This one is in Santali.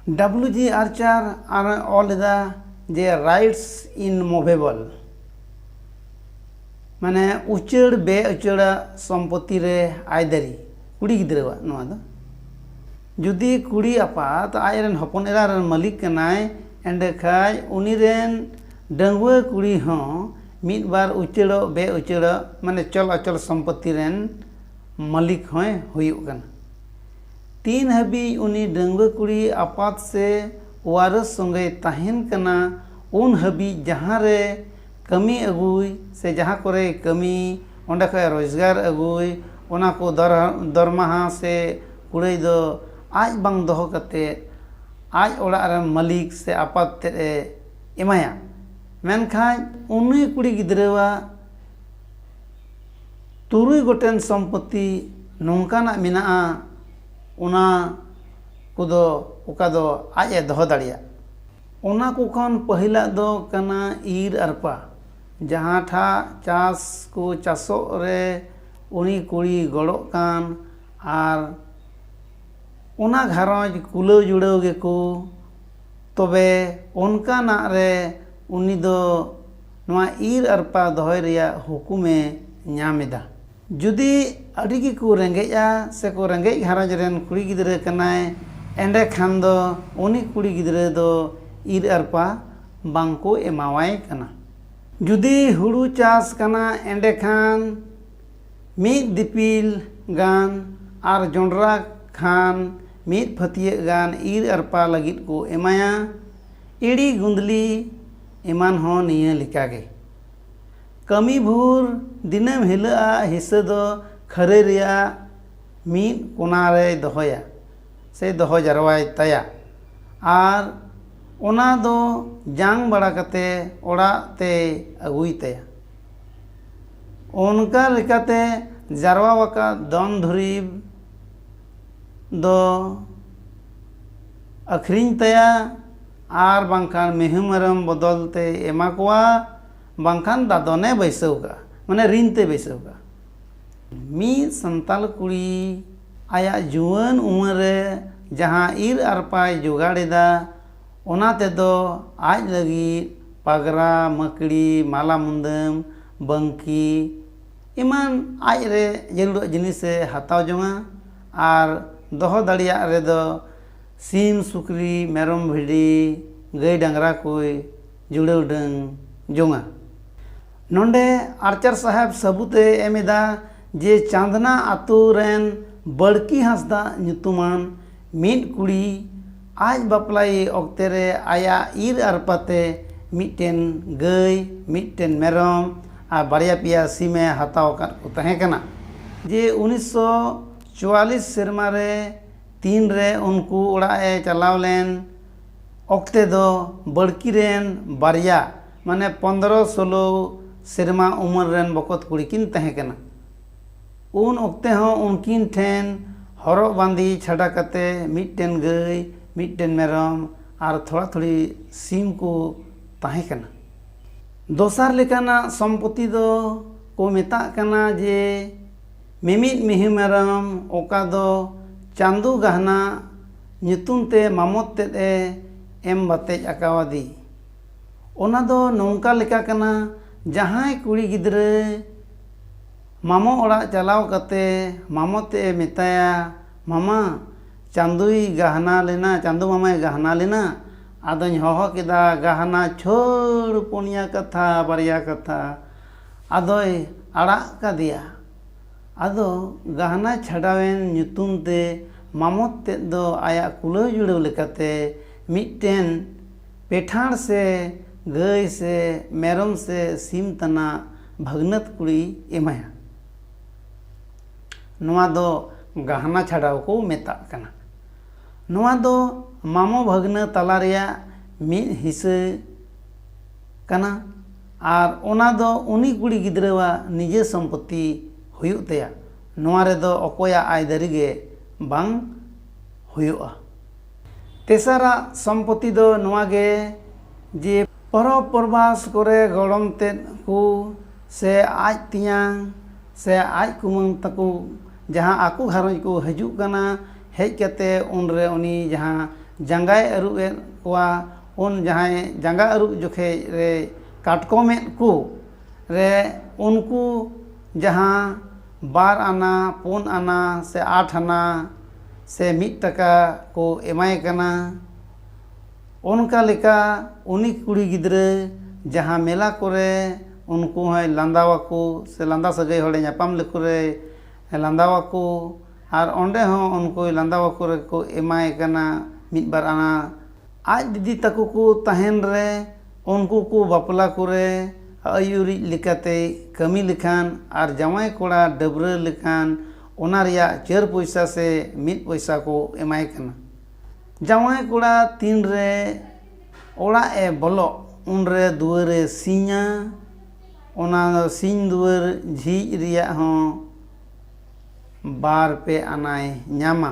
ᱰᱟᱵᱞᱩ ᱡᱤ ᱟᱨᱪᱟᱨ ᱟᱨ ᱚᱞ ᱞᱮᱫᱟ ᱡᱮ ᱨᱟᱭᱤᱴᱥ ᱤᱱ ᱢᱩᱵᱷᱮᱵᱚᱞ ᱢᱟᱱᱮ ᱩᱪᱟᱹᱲ ᱵᱮ ᱩᱪᱟᱹᱲᱟᱜ ᱥᱚᱢᱯᱚᱛᱤ ᱨᱮ ᱟᱭᱫᱟᱹᱨᱤ ᱠᱩᱲᱤ ᱜᱤᱫᱽᱨᱟᱹᱣᱟᱜ ᱱᱚᱣᱟ ᱫᱚ ᱡᱩᱫᱤ ᱠᱩᱲᱤ ᱟᱯᱟᱛ ᱟᱡ ᱨᱮᱱ ᱦᱚᱯᱚᱱ ᱮᱨᱟ ᱨᱮᱱ ᱢᱟᱹᱞᱤᱠ ᱠᱟᱱᱟᱭ ᱮᱸᱰᱮ ᱠᱷᱟᱱ ᱩᱱᱤ ᱨᱮᱱ ᱰᱟᱺᱜᱩᱣᱟᱹ ᱠᱩᱲᱤ ᱦᱚᱸ ᱢᱤᱫ ᱵᱟᱨ ᱩᱪᱟᱹᱲᱚᱜ ᱵᱮ ᱩᱪᱟᱹᱲᱚᱜ ᱢᱟᱱᱮ ᱪᱚᱞ ᱚᱪᱚᱞ ᱥᱚᱢᱯᱚᱛᱤ ᱨᱮᱱ ᱢᱟᱹᱞᱤᱠ ᱦᱚᱸᱭ ᱦᱩᱭᱩᱜ ᱠᱟᱱᱟ ᱛᱤᱱ ᱦᱟᱹᱵᱤᱡ ᱩᱱᱤ ᱰᱟᱺᱜᱽᱣᱟᱹ ᱠᱩᱲᱤ ᱟᱯᱟᱛ ᱥᱮ ᱳᱣᱟᱨᱚᱥ ᱥᱚᱸᱜᱮᱭ ᱛᱟᱦᱮᱸᱱ ᱠᱟᱱᱟ ᱩᱱ ᱦᱟᱹᱵᱤᱡ ᱡᱟᱦᱟᱸ ᱨᱮ ᱠᱟᱹᱢᱤ ᱟᱹᱜᱩᱭ ᱥᱮ ᱡᱟᱦᱟᱸ ᱠᱚᱨᱮᱭ ᱠᱟᱹᱢᱤ ᱚᱸᱰᱮ ᱠᱷᱚᱡ ᱨᱚᱡᱽᱜᱟᱨ ᱟᱹᱜᱩᱭ ᱚᱱᱟ ᱠᱚ ᱫᱚᱨᱢᱟᱦᱟ ᱥᱮ ᱠᱩᱲᱟᱹᱭ ᱫᱚ ᱟᱡ ᱵᱟᱝ ᱫᱚᱦᱚ ᱠᱟᱛᱮᱫ ᱟᱡ ᱚᱲᱟᱜ ᱨᱮᱱ ᱢᱟᱹᱞᱤᱠ ᱥᱮ ᱟᱯᱟᱛ ᱛᱮᱫ ᱮ ᱮᱢᱟᱭᱟ ᱢᱮᱱᱠᱷᱟᱡ ᱩᱱᱤ ᱠᱩᱲᱤ ᱜᱤᱫᱽᱨᱟᱹᱣᱟᱜ ᱛᱩᱨᱩᱭ ᱜᱚᱴᱮᱱ ᱥᱚᱢᱯᱚᱛᱛᱤ ᱱᱚᱝᱠᱟᱱᱟᱜ ᱢᱮᱱᱟᱜᱼᱟ ᱚᱱᱟ ᱠᱚᱫᱚ ᱚᱠᱟ ᱫᱚ ᱟᱡ ᱮ ᱫᱚᱦᱚ ᱫᱟᱲᱮᱭᱟᱜ ᱚᱱᱟ ᱠᱚ ᱠᱷᱚᱱ ᱯᱟᱹᱦᱤᱞᱟᱜ ᱫᱚ ᱠᱟᱱᱟ ᱤᱨ ᱟᱨᱯᱟ ᱡᱟᱦᱟᱸ ᱴᱷᱟᱜ ᱪᱟᱥ ᱠᱚ ᱪᱟᱥᱚᱜ ᱨᱮ ᱩᱱᱤ ᱠᱩᱲᱤ ᱜᱚᱲᱚᱜ ᱠᱟᱱ ᱟᱨ ᱚᱱᱟ ᱜᱷᱟᱨᱚᱸᱡᱽ ᱠᱩᱞᱟᱹᱣ ᱡᱩᱲᱟᱹᱣ ᱜᱮᱠᱚ ᱛᱚᱵᱮ ᱚᱱᱠᱟᱱᱟᱜ ᱨᱮ ᱩᱱᱤ ᱫᱚ ᱱᱚᱣᱟ ᱤᱨ ᱟᱨᱯᱟ ᱫᱚᱦᱚᱭ ᱨᱮᱭᱟᱜ ᱦᱩᱠᱩᱢ ᱮ ᱧᱟᱢ ᱮᱫᱟ᱾ ᱡᱩᱫᱤ ᱟᱹᱰᱤ ᱜᱮ ᱠᱚ ᱨᱮᱸᱜᱮᱡᱼᱟ ᱥᱮ ᱠᱚ ᱨᱮᱸᱜᱮᱡ ᱜᱷᱟᱨᱚᱸᱡᱽ ᱨᱮᱱ ᱠᱩᱲᱤ ᱜᱤᱫᱽᱨᱟᱹ ᱠᱟᱱᱟᱭ ᱮᱸᱰᱮ ᱠᱷᱟᱱ ᱫᱚ ᱩᱱᱤ ᱠᱩᱲᱤ ᱜᱤᱫᱽᱨᱟᱹ ᱫᱚ ᱤᱨ ᱟᱨᱯᱟ ᱵᱟᱝ ᱠᱚ ᱮᱢᱟᱣᱟᱭ ᱠᱟᱱᱟ᱾ ᱡᱩᱫᱤ ᱦᱩᱲᱩ ᱪᱟᱥ ᱠᱟᱱᱟ ᱮᱸᱰᱮ ᱠᱷᱟᱱ ᱢᱤᱫ ᱫᱤᱯᱤᱞ ᱜᱟᱱ ᱟᱨ ᱡᱚᱸᱰᱨᱟ ᱠᱷᱟᱱ ᱢᱤᱫ ᱯᱷᱟᱹᱛᱤᱭᱟᱹᱜ ᱜᱟᱱ ᱤᱨ ᱟᱨᱯᱟ ᱞᱟᱹᱜᱤᱫ ᱠᱚ ᱮᱢᱟᱭᱟ᱾ ᱤᱲᱤ ᱜᱩᱸᱫᱽᱞᱤ᱾ ᱮᱢᱟᱱ ᱦᱚᱸ ᱱᱤᱭᱟᱹ ᱞᱮᱠᱟ ᱜᱮ᱾ ᱠᱟᱹᱢᱤ ᱵᱷᱩᱨ ᱫᱤᱱᱟᱹᱢ ᱦᱤᱞᱟᱹᱜ ᱟᱜ ᱦᱤᱥᱟᱹ ᱫᱚ ᱠᱷᱟᱹᱨᱟᱹᱭ ᱨᱮᱭᱟᱜ ᱢᱤᱫ ᱠᱚᱱᱟ ᱨᱮᱭ ᱫᱚᱦᱚᱭᱟ ᱥᱮᱭ ᱫᱚᱦᱚ ᱡᱟᱨᱣᱟᱭ ᱛᱟᱭᱟ ᱟᱨ ᱚᱱᱟ ᱫᱚ ᱡᱟᱝ ᱵᱟᱲᱟ ᱠᱟᱛᱮ ᱚᱲᱟᱜ ᱛᱮᱭ ᱟᱹᱜᱩᱭ ᱛᱟᱭᱟ᱾ ᱚᱱᱠᱟ ᱞᱮᱠᱟᱛᱮ ᱡᱟᱨᱣᱟ ᱟᱠᱟᱫ ᱫᱷᱚᱱ ᱫᱷᱩᱨᱤᱵᱽ ᱫᱚ ᱟᱹᱠᱷᱨᱤᱧ ᱛᱟᱭᱟ᱾ ᱟᱨ ᱵᱟᱝᱠᱷᱟᱱ ᱢᱤᱦᱩ ᱢᱮᱨᱚᱢ ᱵᱚᱫᱚᱞ ᱛᱮᱭ ᱮᱢᱟ ᱠᱚᱣᱟ ᱵᱟᱝᱠᱷᱟᱱ ᱫᱟᱫᱚᱱᱮ ᱵᱟᱹᱭᱥᱟᱹᱣ ᱠᱟᱜᱼᱟ ᱢᱟᱱᱮ ᱨᱤᱱ ᱛᱮᱭ ᱵᱟᱹᱭᱥᱟᱹᱣ ᱠᱟᱜᱼᱟ ᱢᱤᱫ ᱥᱟᱱᱛᱟᱲ ᱠᱩᱲᱤ ᱟᱭᱟᱜ ᱡᱩᱣᱟᱹᱱ ᱩᱢᱮᱨ ᱨᱮ ᱡᱟᱦᱟᱸ ᱤᱨ ᱟᱨᱯᱟᱭ ᱡᱚᱜᱟᱲ ᱮᱫᱟ ᱚᱱᱟ ᱛᱮᱫᱚ ᱟᱡ ᱞᱟᱹᱜᱤᱫ ᱯᱟᱜᱽᱨᱟ ᱢᱟᱹᱠᱲᱤ ᱢᱟᱞᱟ ᱢᱩᱫᱟᱹᱢ ᱵᱟᱝᱠᱤ ᱮᱢᱟᱱ ᱟᱡ ᱨᱮ ᱡᱟᱹᱨᱩᱲᱟᱜ ᱡᱤᱱᱤᱥᱮ ᱦᱟᱛᱟᱣ ᱡᱚᱝᱟ ᱟᱨ ᱫᱚᱦᱚ ᱫᱟᱲᱮᱭᱟᱜ ᱨᱮᱫᱚ ᱥᱤᱢ ᱥᱩᱠᱨᱤ ᱢᱮᱨᱚᱢ ᱵᱷᱤᱰᱤ ᱜᱟᱹᱭ ᱰᱟᱝᱨᱟ ᱠᱚᱭ ᱡᱩᱲᱟᱹᱣ ᱰᱟᱹᱝ ᱡᱚᱝᱟ ᱱᱚᱰᱮ ᱟᱨᱪᱟᱨ ᱥᱟᱦᱮᱵᱽ ᱥᱟᱹᱵᱩᱫᱽ ᱮ ᱮᱢ ᱮᱫᱟ ᱡᱮ ᱪᱟᱸᱫᱽᱱᱟ ᱟᱹᱛᱩ ᱨᱮᱱ ᱵᱟᱹᱲᱠᱤ ᱦᱟᱸᱥᱫᱟ ᱧᱩᱛᱩᱢᱟᱱ ᱢᱤᱫ ᱠᱩᱲᱤ ᱟᱡ ᱵᱟᱯᱞᱟᱭᱮ ᱚᱠᱛᱮ ᱨᱮ ᱟᱭᱟᱜ ᱤᱨ ᱟᱨᱯᱟ ᱛᱮ ᱢᱤᱫᱴᱮᱱ ᱜᱟᱹᱭ ᱢᱤᱫᱴᱮᱱ ᱢᱮᱨᱚᱢ ᱟᱨ ᱵᱟᱨᱭᱟ ᱯᱮᱭᱟ ᱥᱤᱢ ᱮ ᱦᱟᱛᱟᱣ ᱟᱠᱟᱫ ᱠᱚ ᱛᱟᱦᱮᱸ ᱠᱟᱱᱟ ᱡᱮ ᱩᱱᱤᱥᱥᱚ ᱪᱩᱣᱟᱞᱤᱥ ᱥᱮᱨᱢᱟ ᱨᱮ ᱛᱤᱱ ᱨᱮ ᱩᱱᱠᱩ ᱚᱲᱟᱜ ᱮ ᱪᱟᱞᱟᱣ ᱞᱮᱱ ᱚᱠᱛᱮ ᱫᱚ ᱵᱟᱹᱲᱠᱤ ᱨᱮᱱ ᱵᱟᱨᱭᱟ ᱢᱟᱱᱮ ᱯᱚᱸᱫᱽᱨᱚ ᱥᱳᱞᱳ ᱥᱮᱨᱢᱟ ᱩᱢᱮᱨ ᱨᱮᱱ ᱵᱚᱠᱚᱛ ᱠᱩᱲᱤ ᱠᱤᱱ ᱛᱟᱦᱮᱸ ᱠᱟᱱᱟ ᱩᱱ ᱚᱠᱛᱮ ᱦᱚᱸ ᱩᱱᱠᱤᱱ ᱴᱷᱮᱱ ᱦᱚᱨᱚᱜ ᱵᱟᱸᱫᱮ ᱪᱷᱟᱰᱟ ᱠᱟᱛᱮ ᱢᱤᱫᱴᱮᱱ ᱜᱟᱹᱭ ᱢᱤᱫᱴᱮᱱ ᱢᱮᱨᱚᱢ ᱟᱨ ᱛᱷᱚᱲᱟ ᱛᱷᱩᱲᱤ ᱥᱤᱢ ᱠᱚ ᱛᱟᱦᱮᱸ ᱠᱟᱱᱟ ᱫᱚᱥᱟᱨ ᱞᱮᱠᱟᱱᱟᱜ ᱥᱚᱢᱯᱚᱛᱤ ᱫᱚ ᱠᱚ ᱢᱮᱛᱟᱜ ᱠᱟᱱᱟ ᱡᱮ ᱢᱤᱢᱤᱫ ᱢᱤᱦᱩ ᱢᱮᱨᱚᱢ ᱚᱠᱟ ᱫᱚ ᱪᱟᱱᱫᱩ ᱜᱟᱦᱱᱟ ᱧᱩᱛᱩᱢ ᱛᱮ ᱢᱟᱢᱚᱛ ᱛᱮᱫ ᱮ ᱮᱢ ᱵᱟᱛᱮᱡ ᱟᱠᱟᱣᱟᱫᱤ᱾ ᱚᱱᱟ ᱫᱚ ᱱᱚᱝᱠᱟ ᱞᱮᱠᱟ ᱠᱟᱱᱟ ᱡᱟᱦᱟᱸᱭ ᱠᱩᱲᱤ ᱜᱤᱫᱽᱨᱟᱹ ᱢᱟᱢᱚ ᱚᱲᱟᱜ ᱪᱟᱞᱟᱣ ᱠᱟᱛᱮ ᱢᱟᱢᱚ ᱛᱮᱫ ᱮ ᱢᱮᱛᱟᱭᱟ ᱢᱟᱢᱟ ᱪᱟᱱᱫᱩᱭ ᱜᱟᱦᱱᱟ ᱞᱮᱱᱟ ᱪᱟᱱᱫᱩ ᱢᱟᱢᱟᱭ ᱜᱟᱦᱱᱟ ᱞᱮᱱᱟ ᱟᱫᱚᱧ ᱦᱚᱦᱚ ᱠᱮᱫᱟ ᱜᱟᱦᱱᱟ ᱪᱷᱟᱹᱲ ᱯᱩᱱᱭᱟ ᱠᱟᱛᱷᱟ ᱵᱟᱨᱭᱟ ᱠᱟᱛᱷᱟ᱾ ᱟᱫᱚᱭ ᱟᱲᱟᱜ ᱠᱟᱫᱮᱭᱟ᱾ ᱟᱫᱚ ᱜᱟᱦᱱᱟ ᱪᱷᱟᱰᱟᱣᱮᱱ ᱧᱩᱛᱩᱢ ᱛᱮ ᱢᱟᱢᱚᱛ ᱛᱮᱫ ᱫᱚ ᱟᱭᱟᱜ ᱠᱩᱞᱟᱹᱣ ᱡᱩᱲᱟᱹᱣ ᱞᱮᱠᱟᱛᱮ ᱢᱤᱫᱴᱮᱱ ᱯᱮᱴᱷᱟᱬ ᱥᱮ ᱜᱟᱹᱭ ᱥᱮ ᱢᱮᱨᱚᱢ ᱥᱮ ᱥᱤᱢ ᱛᱟᱱᱟᱜ ᱵᱷᱟᱹᱜᱽᱱᱟᱹᱛ ᱠᱩᱲᱤᱭ ᱮᱢᱟᱭᱟ᱾ ᱱᱚᱣᱟ ᱫᱚ ᱜᱟᱦᱱᱟ ᱪᱷᱟᱰᱟᱣ ᱠᱚ ᱢᱮᱛᱟᱜ ᱠᱟᱱᱟ᱾ ᱱᱚᱣᱟ ᱫᱚ ᱢᱟᱢᱚ ᱵᱷᱟᱹᱜᱽᱱᱟᱹ ᱛᱟᱞᱟ ᱨᱮᱭᱟᱜ ᱢᱤᱫ ᱦᱤᱸᱥᱟᱹ ᱠᱟᱱᱟ᱾ ᱟᱨ ᱚᱱᱟ ᱫᱚ ᱩᱱᱤ ᱠᱩᱲᱤ ᱜᱤᱫᱽᱨᱟᱹᱣᱟᱜ ᱱᱤᱡᱮ ᱥᱚᱢᱯᱚᱛᱛᱤ ᱦᱩᱭᱩᱜ ᱛᱟᱭᱟ᱾ ᱱᱚᱶᱟ ᱨᱮᱫᱚ ᱚᱠᱚᱭᱟᱜ ᱟᱹᱭᱫᱟᱹᱨᱤ ᱜᱮ ᱵᱟᱝ ᱦᱩᱭᱩᱜᱼᱟ᱾ ᱛᱮᱥᱟᱨᱟᱜ ᱥᱚᱢᱯᱚᱛᱛᱤ ᱫᱚ ᱱᱚᱶᱟ ᱜᱮ ᱡᱮ ᱯᱚᱨᱚᱵᱽ ᱯᱚᱨᱵᱷᱟᱥ ᱠᱚᱨᱮ ᱜᱚᱲᱚᱢ ᱛᱮᱫ ᱠᱚ ᱥᱮ ᱟᱡ ᱛᱮᱧᱟᱝ ᱥᱮ ᱟᱡ ᱠᱩᱢᱟᱹᱝ ᱛᱟᱠᱚ ᱡᱟᱦᱟᱸ ᱟᱠᱚ ᱜᱷᱟᱨᱚᱸᱡᱽ ᱠᱚ ᱦᱤᱡᱩᱜ ᱠᱟᱱᱟ ᱦᱮᱡ ᱠᱟᱛᱮ ᱩᱱᱨᱮ ᱩᱱᱤ ᱡᱟᱦᱟᱸ ᱡᱟᱸᱜᱟᱭ ᱟᱹᱨᱩᱵ ᱮᱫ ᱠᱚᱣᱟ ᱩᱱ ᱡᱟᱦᱟᱸᱭ ᱡᱟᱸᱜᱟ ᱟᱹᱨᱩᱵ ᱡᱚᱠᱷᱮᱡ ᱨᱮ ᱠᱟᱴᱠᱚᱢᱮᱫ ᱠᱚ ᱨᱮ ᱩᱱᱠᱩ ᱡᱟᱦᱟᱸ ᱵᱟᱨ ᱟᱱᱟ ᱯᱩᱱ ᱟᱱᱟ ᱥᱮ ᱟᱴ ᱟᱱᱟ ᱥᱮ ᱢᱤᱫ ᱴᱟᱠᱟ ᱠᱚ ᱮᱢᱟᱭ ᱠᱟᱱᱟ ᱚᱱᱠᱟ ᱞᱮᱠᱟ ᱩᱱᱤ ᱠᱩᱲᱤ ᱜᱤᱫᱽᱨᱟᱹ ᱡᱟᱦᱟᱸ ᱢᱮᱞᱟ ᱠᱚᱨᱮ ᱩᱱᱠᱩ ᱦᱚᱸᱭ ᱞᱟᱸᱫᱟ ᱟᱠᱚ ᱥᱮ ᱞᱟᱸᱫᱟ ᱥᱟᱹᱜᱟᱹᱭ ᱦᱚᱲᱮ ᱧᱟᱯᱟᱢ ᱞᱮᱠᱚ ᱨᱮ ᱞᱟᱸᱫᱟ ᱟᱠᱚ ᱟᱨ ᱚᱸᱰᱮ ᱦᱚᱸ ᱩᱱᱠᱩᱭ ᱞᱟᱸᱫᱟ ᱟᱠᱚ ᱨᱮᱠᱚ ᱮᱢᱟᱭ ᱠᱟᱱᱟ ᱢᱤᱫ ᱵᱟᱨ ᱟᱱᱟ ᱟᱡ ᱫᱤᱫᱤ ᱛᱟᱠᱚ ᱠᱚ ᱛᱟᱦᱮᱱ ᱨᱮ ᱩᱱᱠᱩ ᱠᱚ ᱵᱟᱯᱞᱟ ᱠᱚᱨᱮ ᱟᱹᱭᱩᱨᱤᱡ ᱞᱮᱠᱟᱛᱮᱭ ᱠᱟᱹᱢᱤ ᱞᱮᱠᱷᱟᱱ ᱟᱨ ᱡᱟᱶᱟᱭ ᱠᱚᱲᱟ ᱰᱟᱹᱵᱽᱨᱟᱹ ᱞᱮᱠᱷᱟᱱ ᱚᱱᱟ ᱨᱮᱭᱟᱜ ᱪᱟᱹᱨ ᱯᱚᱭᱥᱟ ᱥᱮ ᱢᱤᱫ ᱯᱚᱭᱥᱟ ᱠᱚ ᱮᱢᱟᱭ ᱠᱟᱱᱟ ᱡᱟᱶᱟᱭ ᱠᱚᱲᱟ ᱛᱤᱱ ᱨᱮ ᱚᱲᱟᱜ ᱮ ᱵᱚᱞᱚᱜ ᱩᱱ ᱨᱮ ᱫᱩᱣᱟᱹᱨ ᱮ ᱥᱤᱧᱟ ᱚᱱᱟ ᱥᱤᱧ ᱫᱩᱣᱟᱹᱨ ᱡᱷᱤᱡ ᱨᱮᱭᱟᱜ ᱦᱚᱸ ᱵᱟᱨ ᱯᱮ ᱟᱱᱟᱭ ᱧᱟᱢᱟ